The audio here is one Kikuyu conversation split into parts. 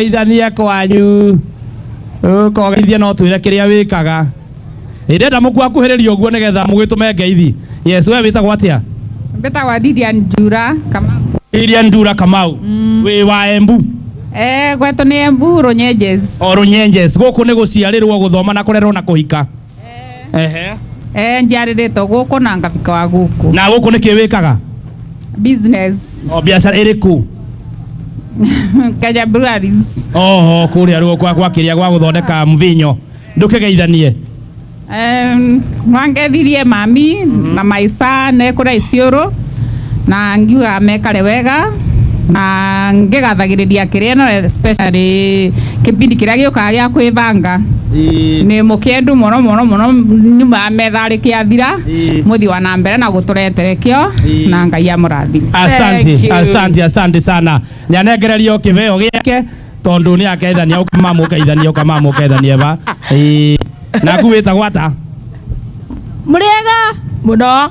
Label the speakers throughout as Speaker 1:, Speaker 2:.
Speaker 1: kũgeithania kwanyu kogeithia no twĩre kĩrĩa wĩkaga ndenda mũkua kuhĩrĩria ũguo nĩgetha mũgĩtũme ngeithi yes we wĩtagwo atĩa Mbetagwa Didian
Speaker 2: Njura kama iria ndura
Speaker 1: kamau wĩ wa embu eh gwetũ
Speaker 2: nĩ Embu Runyenjes o runyenjes
Speaker 1: gũkũ nĩ gũciarĩrwo gũthoma na kũrerwo na kũhika ehe eh
Speaker 2: njarĩrĩtwo gũkũ na ngabika wa gũkũ na gũkũ nĩkĩ wĩkaga
Speaker 1: business
Speaker 2: o biacara
Speaker 1: ĩrĩkũ
Speaker 2: Kenya Breweries oho kũrĩa
Speaker 1: ruo kwa kwa kĩrĩa gwa gũthondeka mvinyo ndũkĩgeithanie Em,
Speaker 2: nwangethirie mami na maica nekũra iciũrũ na ngiuga mekare wega na ngĩgathagĩrĩria kĩrĩa no especially kĩbindi kĩrĩa gĩũkaga gĩa kwĩbanga Ĩĩ. nĩ mũkĩendu mũno mũno mũno nyumaga metha rĩkĩathira Ĩĩ. mũthi wa na mbere na gũtũretere kĩo Ĩĩ. na ngai amũrathi Thank asante you. asante
Speaker 1: asante sana nyanengererio kĩbeo gĩake tondũ nĩ akeithania ũkamamũkeithania ũkamamũkeithania ba Ĩĩ. naku wĩtagwo ata
Speaker 3: mũrĩega mũno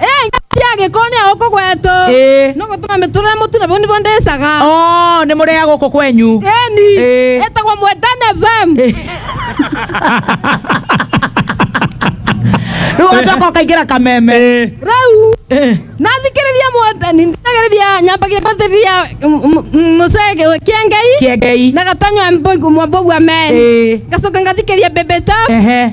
Speaker 4: ĩ ngati ya gĩko
Speaker 3: nĩ ũkũ gwetũ Ĩ. no gũtũma mĩtũrĩre mũtune bau nĩbo ndĩcaga Oh, nĩ mũrĩa
Speaker 4: gũkũ kwenyu ĩni Ĩ. ĩtagwo
Speaker 3: mwendane fm
Speaker 4: rĩu ũgacoka ũkaingĩra kameme Eh, rĩu
Speaker 3: Eh, nathikĩrĩria mwendani thikagĩrĩria nyambagia gũthĩrĩria mũcege kĩengei kĩengei na gatanywa mwambogua meni Eh. ngacoka ngathikĩria mbembe tabu ehe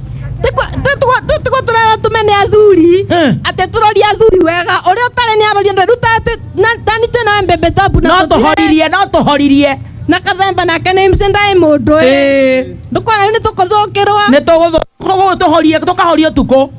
Speaker 3: tiguo tũrera tũmene athuri Eh. atĩ tũrorie athuri wega ũrĩa ũtarĩ nĩ arorie ndweru tani twĩna mbembe tabu na no tũthire- tũhoririe no
Speaker 4: tũhoririe na kathemba
Speaker 3: nake nĩ mse ndaĩ mũndũ ĩ Ĩĩ, ndũkona rĩu nĩ tũkũthũkĩrwo nĩ tũgũthũ-
Speaker 4: tũgũ- tũhorie tũkahorie ũtukũ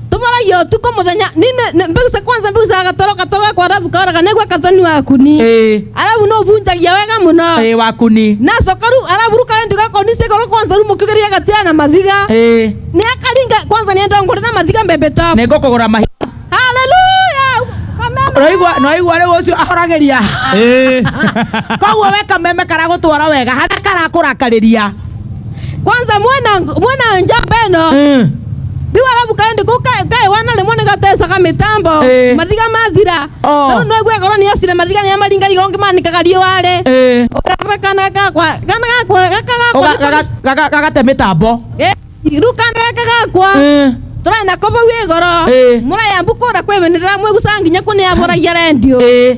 Speaker 4: tũmaragia ũtukũ
Speaker 3: mũthenya nini nĩ- mbegu cia kwanza mbegu cia gatoro gatoro gakwa arabu kaoraga nĩguo kathoni waku ni Eh, arabu no ũbunjagia wega mũno eh, waku ni nacoka
Speaker 4: rĩu arabu
Speaker 3: rĩu karendi gakoni cĩkorwo kwanza rĩu mũkĩgeria gatira na mathiga Eh, nĩ akaringa kwanza nĩ ndongore na mathiga mbembe twaku nĩ ngũkũgũra mahiga
Speaker 4: haleluya
Speaker 3: kameme Noigua-
Speaker 4: noigua rĩu ũcio ahoragĩria Eh. koguo we kameme karagũtwara wega harĩa karakũrakarĩria kwanza
Speaker 3: mwana mwana nja beno Eh. riu arabu kandi ku kae wana rimwe ni gatesa ka mitambo Eh. mathiga mathira Oh. riu no gwe korwo ni ocire mathiga ni amaringa rigo ngi manikaga riware Eh. ukabe kana gakwa kana gakwa gaka Oga- gakwa gaga-
Speaker 4: gaga- gagate mĩtambo Eh, riu kana
Speaker 3: gaka gakwa Eh. tũrarĩ na kobo gwĩ goro Eh. mũrayambukũra kwĩmenera mwĩgucanga nginya kũneamũragia rendio Eh.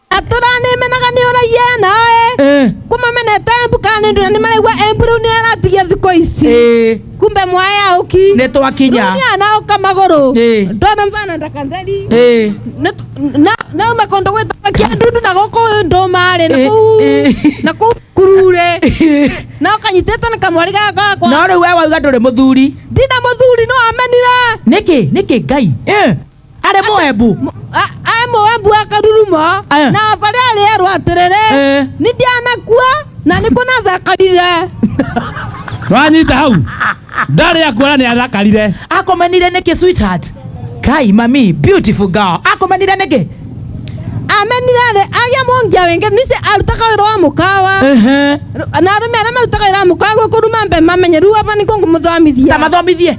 Speaker 4: atũra
Speaker 3: nĩmenaga nĩũraiye naĩ Eh, kuma menete embu kana nĩndũra nĩmaraigua embu rĩu nĩaratigia thikũ ici eh, kumbe mwae auki nĩ twakinya
Speaker 4: nĩanaũka magũrũ
Speaker 3: Eh. ndona mvana ndakatheri Eh, Nĩt- na- nauma kũndũ gwĩtagwo kĩandundu na gũkũ ndũmarĩ na Eh, kũu eh. na kũu kururĩ na ũkanyitĩtwo nĩ kamwari gaka gakwa no rĩu we wauga ndũrĩ
Speaker 4: mũthuri ndina mũthuri no
Speaker 3: amenire nĩkĩ nĩkĩ ngai
Speaker 4: Eh, arĩ moebu aĩ
Speaker 3: moebu akarurumo Eh. na barĩ arĩerwo atĩrĩrĩ Eh. nĩ ndianakua na nĩ kũnathakarire
Speaker 1: wanyita hau ndarĩ akuona nĩ athakarire akomenire nĩkĩ
Speaker 4: sweetheart kai mami beautiful girl akomenire nĩkĩ amenire
Speaker 3: rĩ agĩa mũngia wĩngĩ nice arutaga wĩra wa mũkawa Ehe. na arũme arĩa marutaga wĩra wa mũkawa gũkũruma mbe mamenye rĩu aba nĩkũ ngũmũthomithia tamathomithie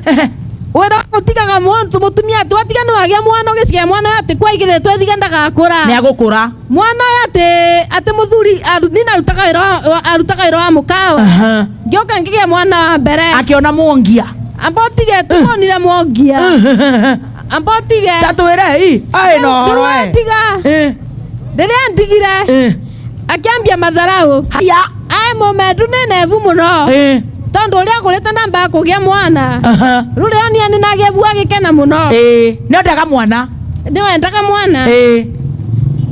Speaker 4: wira
Speaker 3: utigaga muntu mutumia ati watiga ni wagia mwana ugicigia mwana uyu ati kwaigirire twethiga ndagakura nä agå kå ra
Speaker 4: mwana uyu ati
Speaker 3: ati muthuri aru- nina arutaga wira wa- wa- arutaga wira wa mukawa ngioka ngigia mwana wa mbere akä ona mwongia
Speaker 4: amba utige
Speaker 3: tumonire mwangia amba utige tatwä re i
Speaker 4: aä no horo tiga Eh,
Speaker 3: riria ndigire eh. akĩambia matharaũ Haya. aĩ
Speaker 4: mũmendu
Speaker 3: nenevu mũno Eh. tondũ ũrĩa kũrĩte ndambaga kũgĩa mwana Aha. rũrĩa onia nĩ nagevu agĩkena mũno Eh. Nĩ ndaga mwana.
Speaker 4: nĩwendaga
Speaker 3: mwana Eh.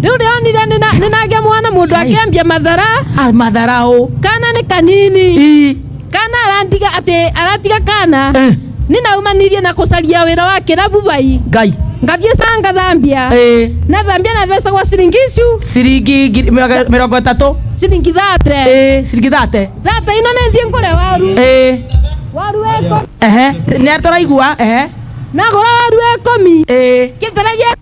Speaker 3: rĩu rĩa onire nĩ na- nĩ nagĩa mwana mũndũ Ai. akĩambia mathara Ah, Matharaũ.
Speaker 4: kana nĩ
Speaker 3: kanini I. kana arandiga atĩ aratiga kana Eh. ninaumanirie na kucaria wira wa kirabu vai ngai ngathiĩ
Speaker 4: canga
Speaker 3: thambia ĩ na thambia na mbeca gwa ciringi icu ciringi ngiri-
Speaker 4: mĩrongo- mĩrongo ĩtatũ ciringi thate
Speaker 3: ĩ ciringi thate
Speaker 4: thate ino nĩ thiĩ ngũre
Speaker 3: waru ĩ waru weko ehe nĩ atũraigua
Speaker 4: ehe nagũra
Speaker 3: waru wekũmi ĩ kĩtara gĩa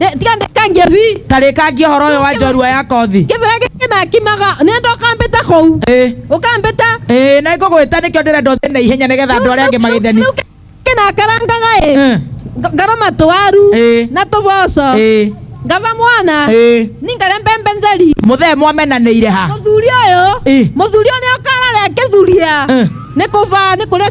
Speaker 4: Ndĩ- tiga ndĩkangie
Speaker 3: bi tarĩkangia ũhoro ũyũ wa
Speaker 4: njorua ya kothi kĩbĩra gĩkĩ nakimaga
Speaker 3: nĩndĩ ũkambĩta kũu Ĩĩ. ũkambĩta Ĩĩ, na ngũgwĩta
Speaker 4: nĩkĩo ndĩrenda ũthiĩ na ihenya nĩgetha andũ arĩa angĩ magĩtheni Rĩu kĩ- nakarangaga
Speaker 3: ĩ Eh, Nga- ngaroma tũwaru Ĩĩ. na tũboco ĩĩ, ngava mwana ĩĩ. ningare mbembe ntheri mũthee mwamenanĩire
Speaker 4: ha mũthuri ũyũ
Speaker 3: Ĩĩ. mũthuri ũyũ nĩokararĩa kĩthuria Eh. nĩ kũba nĩ kũrĩa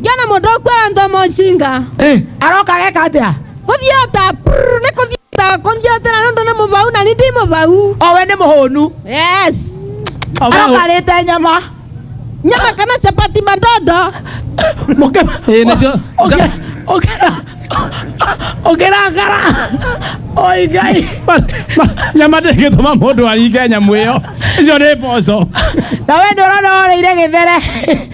Speaker 3: Jona mũndũ ũkwĩra ndomo njinga Eh, aroka geka
Speaker 4: atia kũthiota
Speaker 3: prrr, nĩ kũthiota kũthiotera nĩ ũndũ nĩ mũbau na nĩ ndi mũbau owe nĩ mũhũnu
Speaker 4: yes
Speaker 3: Owe aroka hũ-
Speaker 4: rĩte nyama nyama kana
Speaker 3: chapati mandondo mũkema
Speaker 1: Ĩĩ, nĩcio. Ũkĩra- ũkĩra
Speaker 4: ũkĩrangara oi ngai Ma- ma- nyama
Speaker 1: ndĩngĩtũma mũndũ aringe nyamũ ĩyo icio nĩ mboco na we nĩ
Speaker 4: ũrona woreire gĩthere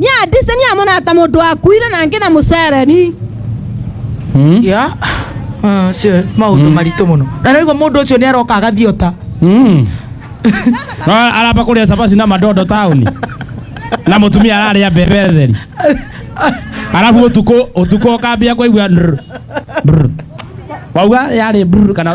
Speaker 4: Nĩ andise nĩ
Speaker 3: amona ta mũndũ akuire na angĩ na mũcereni.
Speaker 4: Hmm? Ya. Ah, cio maũndũ hmm. maritũ mũno. Na rĩu mũndũ ũcio nĩ aroka agathiĩ ota. Hmm. No
Speaker 1: aramba kũrĩa cabaci na madondo taũni. Na mũtumia ararĩa mbembe theri. Arabu ũtukũ ũtukũ ũkambia kũigua. Wauga yarĩ kana.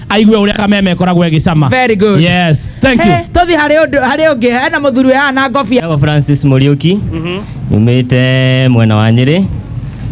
Speaker 1: aigue å rä a kameme ĩkoragwo ĩgĩcama Very good. yes
Speaker 4: thank you Hey,
Speaker 1: tũthiĩ harĩ ũndũ- harĩ
Speaker 4: ũngĩ hena mũthuri ũyũ haha na ngobia Njagwa Francis Muriuki
Speaker 5: nyumite mwena wa Nyeri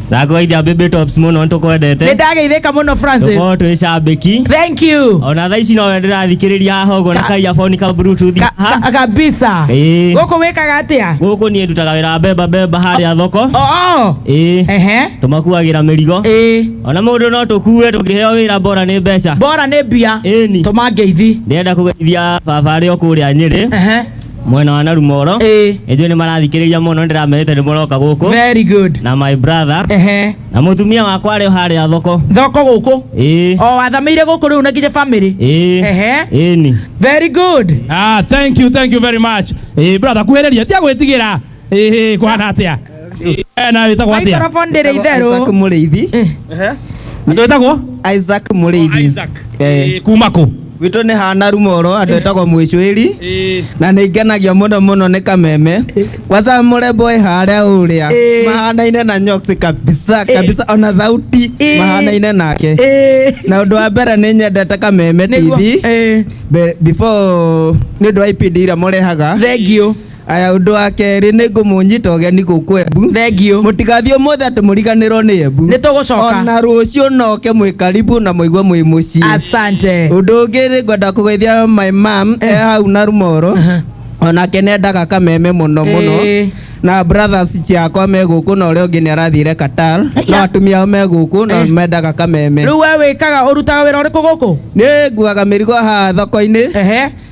Speaker 5: ndakũgeithia Baby Tops mũno nĩ nĩtũkwendete ndageithĩka mũno
Speaker 4: francis tũkorwo twĩ cambĩki
Speaker 5: thank you
Speaker 4: ona thaa ici no we
Speaker 5: ndĩrathikĩrĩria haha ũguo na Ka- kaia boni ka bluetooth Ka- haha. ka- kabisa
Speaker 4: Ĩĩ. gũkũ wĩkaga atĩa gũkũ niĩ ndutaga wĩra wa
Speaker 5: mbemba mbemba harĩa thoko oo ĩĩ ehe tũmakuagĩra mĩrigo ĩĩ ona mũndũ no tũkue tũngĩheo wĩra mbora nĩ mbeca bora nĩ mbia Ĩni.
Speaker 4: tũma ngeithi ndĩrenda kũgeithia
Speaker 5: baba arĩa kũrĩa nyĩrĩ Ehe. mwena wa narumoro Ĩĩ. ĩnjũĩ nĩ marathikĩrĩria mũno ndĩramerĩte nĩ mũroka gũkũ very good na my
Speaker 4: brother
Speaker 5: Ehe. na mũtumia wakwa arĩ o harĩa thoko thoko gũkũ
Speaker 4: ĩĩ o wathamĩire gũkũ rĩu na nginya bamĩrĩ ĩĩ Ehe. ĩni very good Ah, thank you, thank
Speaker 1: you very much. Eh, brother, kuhĩrĩria, tia gwĩtigĩra. Ĩhĩ, kũhana atĩa Eh, na wĩtagwo atĩa Microphone ndĩrĩ Isaac itherũ.
Speaker 4: Mũrĩithi.
Speaker 1: andũ wĩtagwo Isaac Mũrĩithi.
Speaker 6: Isaac. Eh, Eh,
Speaker 1: kuma kũ Witũ nĩ hana
Speaker 6: rumoro andũ etagwo mwĩcwĩri Eh, na nĩ ngenagia mũno mũno nĩ kameme kwanza mũrembo wĩ harĩa ũrĩa Eh. mahanaine na nyoksi kabisa Eh. kabisa ona thauti Eh. mahanaine nake Eh, na ũndũ wa mbere nĩ nyendete kameme nĩguo. tv Eh, Be- before nĩ ũndũ wa ipindi iria mũrehaga thengiũ
Speaker 4: Aya ũndũ wa
Speaker 6: kerĩ nĩ ngũmũnyita ũgeni gũkũ Embu. Thengiũ. Mũtigathiĩ
Speaker 4: ũmũthĩ atĩ
Speaker 6: mũriganĩrwo nĩ Embu. Nĩ tũgũcoka. Ona
Speaker 4: rũciũ
Speaker 6: noke mwĩ karibu na mũigua mwĩ mũciĩ. Asante. Ũndũ
Speaker 4: ũngĩ nĩ ngwenda
Speaker 6: kũgeithia my mom eh hau na Rumoro. Onake nĩ endaga kameme mũno mũno. Ĩĩ. Na brothers ciakwa me gũkũ na ũrĩa ũngĩ nĩ arathire Qatar. No atumia ao me gũkũ na Eh. mendaga kameme. Rĩu we wĩkaga
Speaker 4: ũrutaga wĩra ũrĩkũ gũkũ? Nĩ nguaga
Speaker 6: mĩrigo haha thoko-inĩ. Ehe.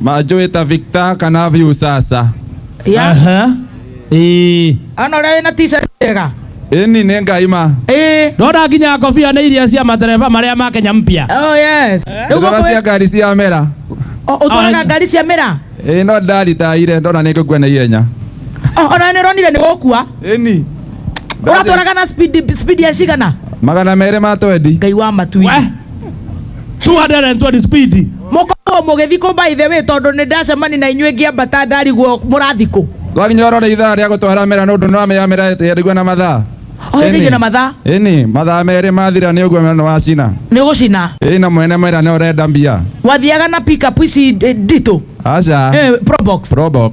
Speaker 1: Majo eta
Speaker 7: Victor kana Viusasa. ya Aha. Ĩĩ.
Speaker 4: ana ũrĩa wĩna t-shirt njega Ĩni nĩ ngai
Speaker 7: ma. ĩĩ Ndona nginya
Speaker 1: ngobia nĩ iria cia matereba marĩa ma Kenya mpya. oh yes rĩu
Speaker 4: Ndora cia gũkũ ngari
Speaker 7: cia mera. ũtwaraga Ai.
Speaker 4: ngari cia mĩra Ĩĩ no ndaritaire
Speaker 7: ndona nĩ ngũkua na ihenya. Oh, ona nĩ
Speaker 4: ũronire nĩ gũkua Ĩni.
Speaker 7: ũratwaraga
Speaker 4: na speed speed ya cigana Magana merĩ ma
Speaker 7: twendi. ngai wa matu We.
Speaker 1: 220 speed mukorwo mugithikwo
Speaker 4: by the way tondu ni ndacemani na inyuĩ ngĩambata ndariguo mũrathikũ twakinya orore ithaa
Speaker 7: rĩa gũtwara mera nĩ ũndũ nĩ wamenya mera ĩtĩarigua na mathaa ohendeire na mathaa
Speaker 4: ĩni mathaa merĩ
Speaker 7: mathira nĩ ũguo mera nĩ wacina nĩ gũcina ĩni
Speaker 4: na mwene mera nĩ
Speaker 7: ũrenda mbia wathiaga na pickup
Speaker 4: ici eh, nditũ aca Eh,
Speaker 7: probox probox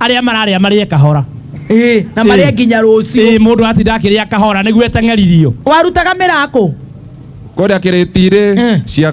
Speaker 1: arĩa mararĩa marĩe kahora Ĩĩ, na marĩa
Speaker 4: Ĩĩ. nginya rũciũ ĩĩ mũndũ atinda akĩrĩa
Speaker 1: kahora nĩguo eteng'eririo warutaga
Speaker 7: mĩrakũ kũrĩa
Speaker 1: kĩrĩtirĩ Eh.
Speaker 7: cia